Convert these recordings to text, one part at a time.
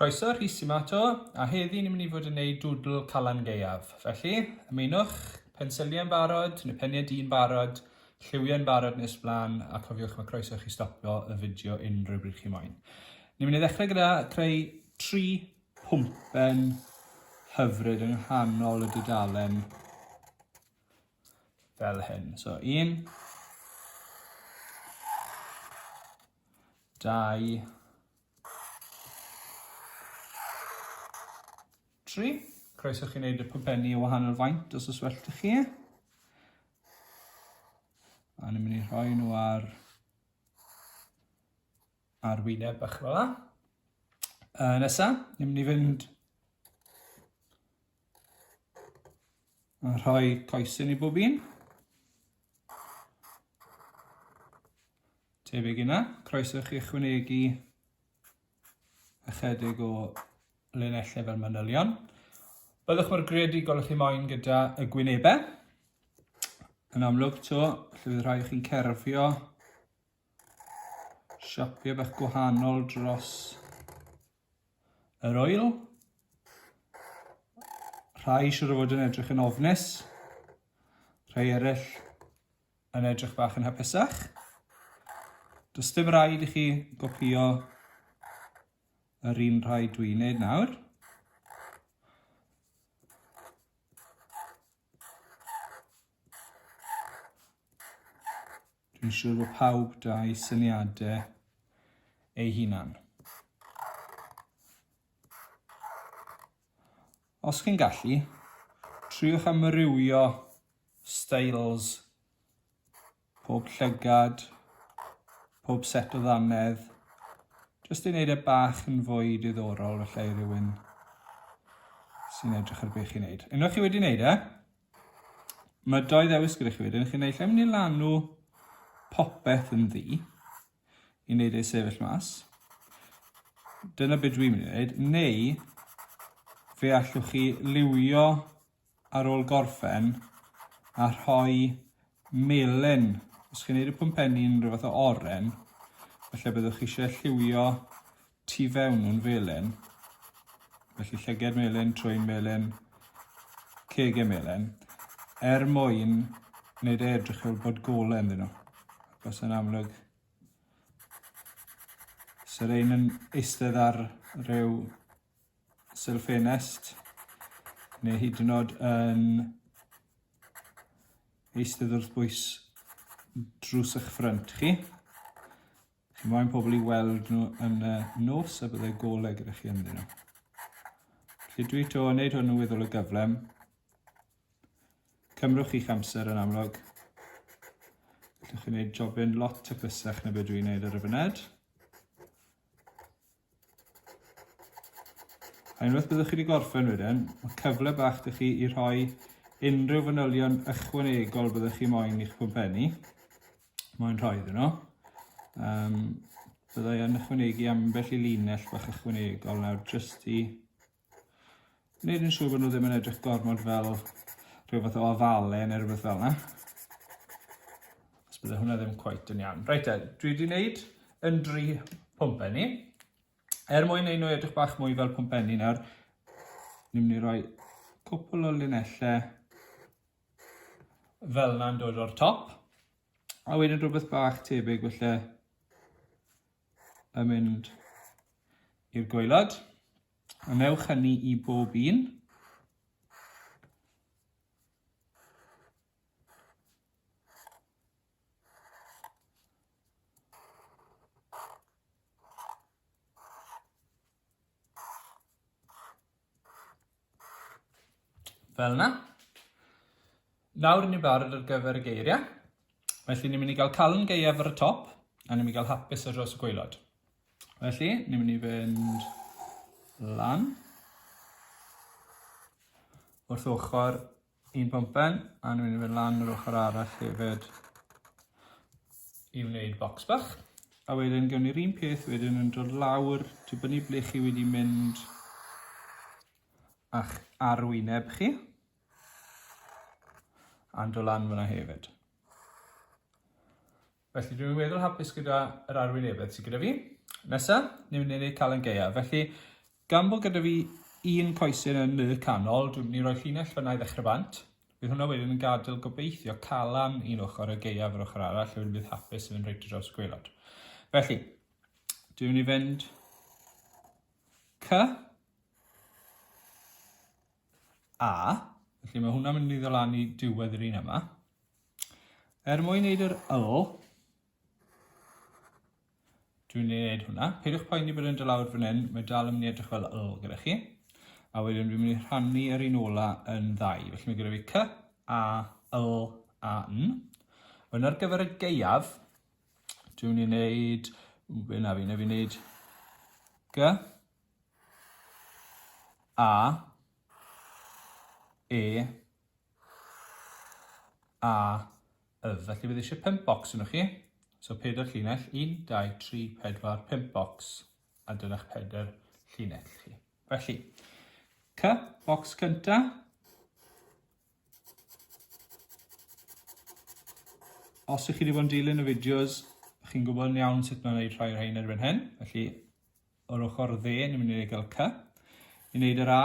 Croeso, Rhys yma to, a heddi ni'n mynd i fod yn neud dwdl Calan Gaeaf. Felly, ymunwch, pensiliau'n barod, neu peniau di'n barod, lliwiau'n barod nes blaen, a cofiwch mae croeso chi stopio y fideo unrhyw bryd chi moyn. Ni'n mynd i ddechrau gyda creu tri pwmpen hyfryd yng nghanol y dudalen fel hyn. So un, dau, tri. Croeso chi wneud y pwmpenni o wahanol faint os oes well da chi. A ni'n mynd i rhoi nhw ar ar wyneb bach fel yna. Uh, nesa, ni'n mynd i fynd A rhoi coesyn i bob un. Tebyg yna, croeso chi ychwanegu ychydig o linellau fel manylion. Byddwch mor greadigol chi moyn gyda y gwynebau. Yn amlwg to, lle bydd rhai chi'n cerfio siopio bach gwahanol dros Yr oil. Rhai siwr o fod yn edrych yn ofnus. Rhai eraill yn edrych bach yn hapusach. Does dim rhaid i chi gopio yr un rhai dwi'n neud nawr. Dwi'n siŵr bod pawb da'i syniadau ei hunan. Os chi'n gallu, triwch amrywio styles pob llygad, pob set o ddannedd, jyst i wneud e bach yn fwy diddorol felly i rywun sy'n edrych ar beth chi'n neud. Unwaith chi wedi wneud e, Mae doi ddewis gyda chi wedyn. Chi'n neud lle mynd i lanw popeth yn ddi i wneud ei sefyll mas. Dyna beth dwi'n mynd i wneud. Neu, fe allwch chi liwio ar ôl gorffen a rhoi melyn. Os chi'n neud y pwmpenni yn rhyw fath o oren, felly byddwch chi eisiau lliwio tu fewn nhw'n felyn. Felly llyged melyn, trwy melyn, cege melyn, er mwyn wneud e edrych fel bod golau ynddyn nhw. Os yn amlwg, sy'r ein yn eistedd ar rhyw sylfenest neu hyd yn oed yn eistedd wrth bwys drws eich ffrynt chi. Chi moyn pobl i weld nhw yn y nos a byddai golau gyda chi ynddyn nhw. Felly dwi to yn neud hwn yn weddol o gyflem. Cymrwch chi'ch amser yn amlwg. Gallwch chi wneud jobyn lot taclusach na beth dwi'n neud ar y fyned. A unwaith byddwch chi wedi gorffen wedyn, mae cyfle bach da chi i rhoi unrhyw fanylion ychwanegol byddwch chi moyn i'ch pwmpenni. Moyn rhoi iddyn nhw. Um, byddai yn ychwanegu ambell i linell bach ychwanegol nawr jyst i Wneud yn siŵr bod nhw ddim yn edrych gormod fel rhyw fath o ofale neu rhywbeth fel yna. Os bydde hwnna ddim cweit yn iawn. Reit te, dwi wedi wneud yn dri pwmpenni. Er mwyn ei nhw edrych bach mwy fel pwmpenni nawr, ni'n mynd i roi cwpl o linellau fel yna'n dod o'r top. A wedyn rhywbeth bach tebyg felly yn mynd i'r gwaelod. A newch hynny i bob un. Fel yna. Nawr ni'n barod ar gyfer y geiriau. Felly ni'n mynd i gael calon geiaf ar y top a ni'n mynd i gael hapus ar dros y gweilod. Felly, ni'n mynd i fynd lan wrth ochr Un pumpen, a ni'n mynd i fynd lan yr ochr arall hefyd i wneud box bach. A wedyn gawn ni'r un peth wedyn yn dod lawr, dibynnu ble chi wedi mynd a'ch arwyneb chi, a'n dod lan fyna hefyd. Felly, dwi'n weddol hapus gyda yr arwynebedd sydd gyda fi. Nesa, ni'n mynd i wneud Calan Gaea. Felly, gan bod gyda fi un coesyn yn y canol, dwi'n mynd i roi llinell fyna i ddechrau bant. Bydd hwnna wedyn yn gadael gobeithio calan un ochr a gaea yr ochr arall, wedyn bydd hapus yn mynd reit dros y gwelod. Felly, dwi'n mynd i fynd C A, felly mae hwnna'n mynd i ddod lan i diwedd yr un yma. Er mwyn neud yr wl, dwi'n ei wneud hwnna. Peidiwch poeni bod yn dod lawr fan hyn, mae dal yn mynd i edrych fel wl gyda chi. A wedyn dwi'n mynd i rhannu yr un ola yn ddau. Felly mae gyda fi cy, a, wl, a, n. Wedyn ar gyfer y geiaf, dwi'n mynd i wneud, be na fi, na fi wneud gy, a, e, A, yf, felly bydd eisiau pump bocs yno chi. So pedair llinell, un, dau, tri, pedwar, pump bocs, a dyna'ch pedair llinell chi. Felly, cy, bocs cynta, os ych chi wedi bod yn dilyn y fideos, chi'n gwybod yn iawn sut mae'n gwneud rhai o'r rhain erbyn hyn. Felly, o'r ochr dde, ni'n mynd i gael cy. I wneud yr A,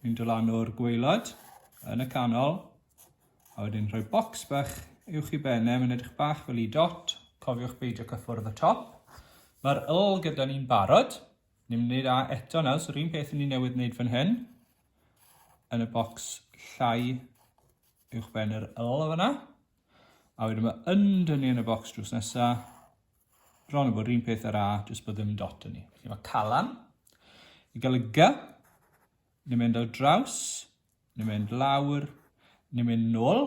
ni'n dod lan o'r gweilod yn y canol, a wedyn rhoi bocs bach uwch i benne, mae'n edrych bach fel i dot, cofiwch beidio cyffwrdd y top. Mae'r yl gyda ni'n barod, ni'n mynd i wneud A eto nawr, so'r un peth ni'n newydd wneud fan hyn, yn y bocs llai uwch ben yr yl o fyna. A wedyn mae under ni yn y bocs drws nesa. Bron yn bod rhywun peth ar A, jyst bod ddim dot yn ni. Felly mae calan. I gael y G, ni'n mynd ar draws, ni'n mynd lawr, ni'n mynd nôl.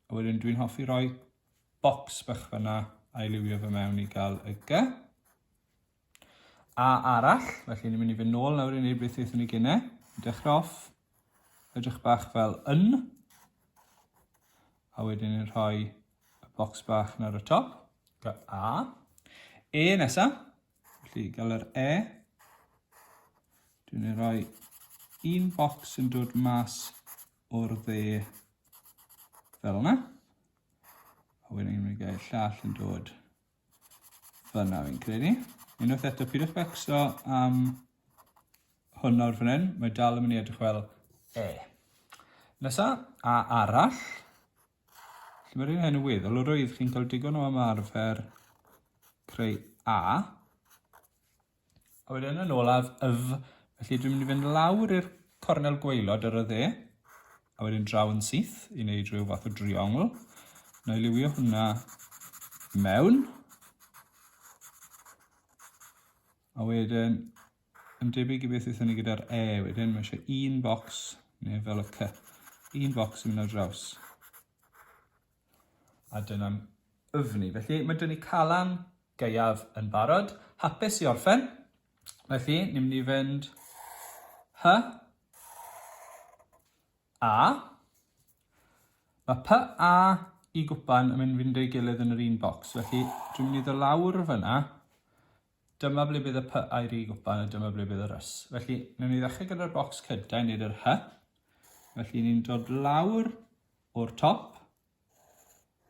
A wedyn dwi'n hoffi roi bocs bach fyna a'i liwio fe mewn i gael y G. A arall, felly ni'n mynd i fynd nôl nawr i wneud beth aethon ni gynne. Dechrau off, edrych bach fel yn, a wedyn ni'n rhoi y bocs bach nawr y top, fel A. E nesa, felly gael yr E. Dwi'n ei roi un bocs yn dod mas o'r dde fel yna. A wedyn ni'n mynd i gael llall yn dod Fyna fi'n credu. Unwaith eto, pidwch becso am hwn nawr fan hyn. Mae dal yn mynd i edrych fel E. Nesa, A arall. Lle mae'r un hyn yn weddol, yr oedd chi'n cael digon o ymarfer creu A. A wedyn yn olaf, yf. Felly dwi'n mynd i fynd lawr i'r cornel gweilod ar y dde, a wedyn draw yn syth i wneud rhyw fath o driongl. Na i liwio hwnna mewn. A wedyn, yn debyg i beth eithon ni gyda'r E wedyn, mae eisiau un bocs, neu fel y C, un bocs i mynd ar draws. A dyna'n yfni. Felly, mae 'da ni Calan Gaeaf yn barod, hapus i orffen. Felly, ni'n mynd i fynd Hy, A. Mae Py, A i gwpan yn mynd fynd ei gilydd yn yr un bocs. Felly, dwi'n mynd i ddod lawr fyna. Dyma ble bydd y Py a'r I gwpan a dyma ble bydd yr Ys. Felly, newn ni ddechrau gyda'r bocs cyntaf i wneud yr Hy. Felly, ni'n dod lawr o'r top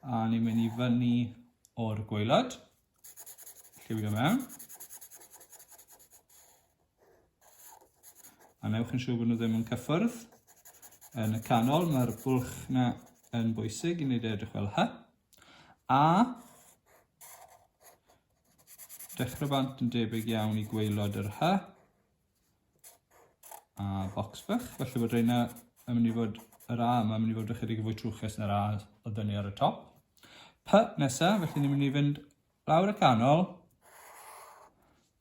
a ni'n mynd i fyny o'r gwaelod. Lliwio mewn. A newch yn siŵr bod nhw ddim yn cyffwrdd. Yn y canol mae'r bwlch na yn bwysig i wneud e edrych fel hy. A dechrau bant yn debyg iawn i gwaelod yr hy. a bocs bach, felly bod reina yn mynd i fod yr A yma yn mynd i fod ychydig fwy trwchus na'r A o dynnu ar y top. P nesa, felly ni'n mynd i fynd lawr y canol,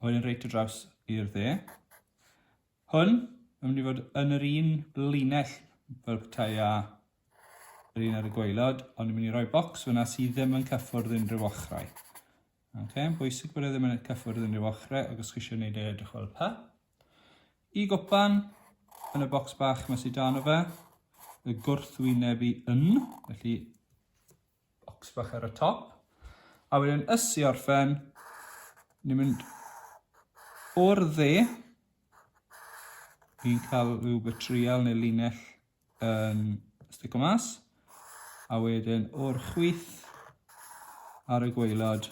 a wedyn reit y draws i'r dde. Hwn yn mynd i fod yn yr un linell fel petai a yr un ar y gweilod, ond ni'n mynd i roi bocs fyna sydd ddim yn cyffwrdd unrhyw ochrau. Ok, yn bwysig bod e ddim yn eich cyffwrdd unrhyw ochrau ac os chi eisiau gwneud e edrych fel pa. I gwpan, yn y bocs bach mae sydd dan o fe, y gwrthwyneb i yn, felly bocs bach ar y top. A wedyn ys i orffen, ni'n mynd o'r dde, ni'n cael rhyw betrial neu linell yn stico mas. A wedyn o'r chwith ar y gweilod,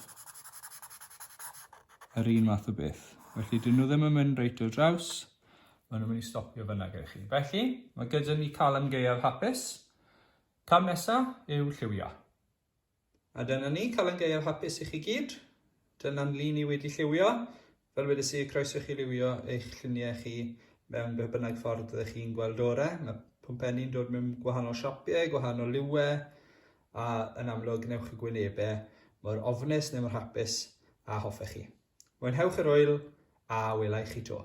yr un math o beth. Felly, dyn nhw ddim yn mynd reit o draws, maen nhw'n mynd i stopio fyna gyda chi. Felly, mae gyda ni calam gaeaf hapus. Cam nesaf yw lliwio. A dyna ni, Calan Gaeaf hapus i chi gyd. Dyna'n lun i wedi lliwio. Fel wedes i, croeso i chi liwio eich lluniau chi mewn beth bynnag ffordd ydych chi'n gweld ore. Mae pwmpenni'n dod mewn gwahanol siapiau, gwahanol liwau, a yn amlwg gnewch y gwynebau mor ofnus neu mor hapus a hoffech chi. Mwynhewch yr oel a welai chi to.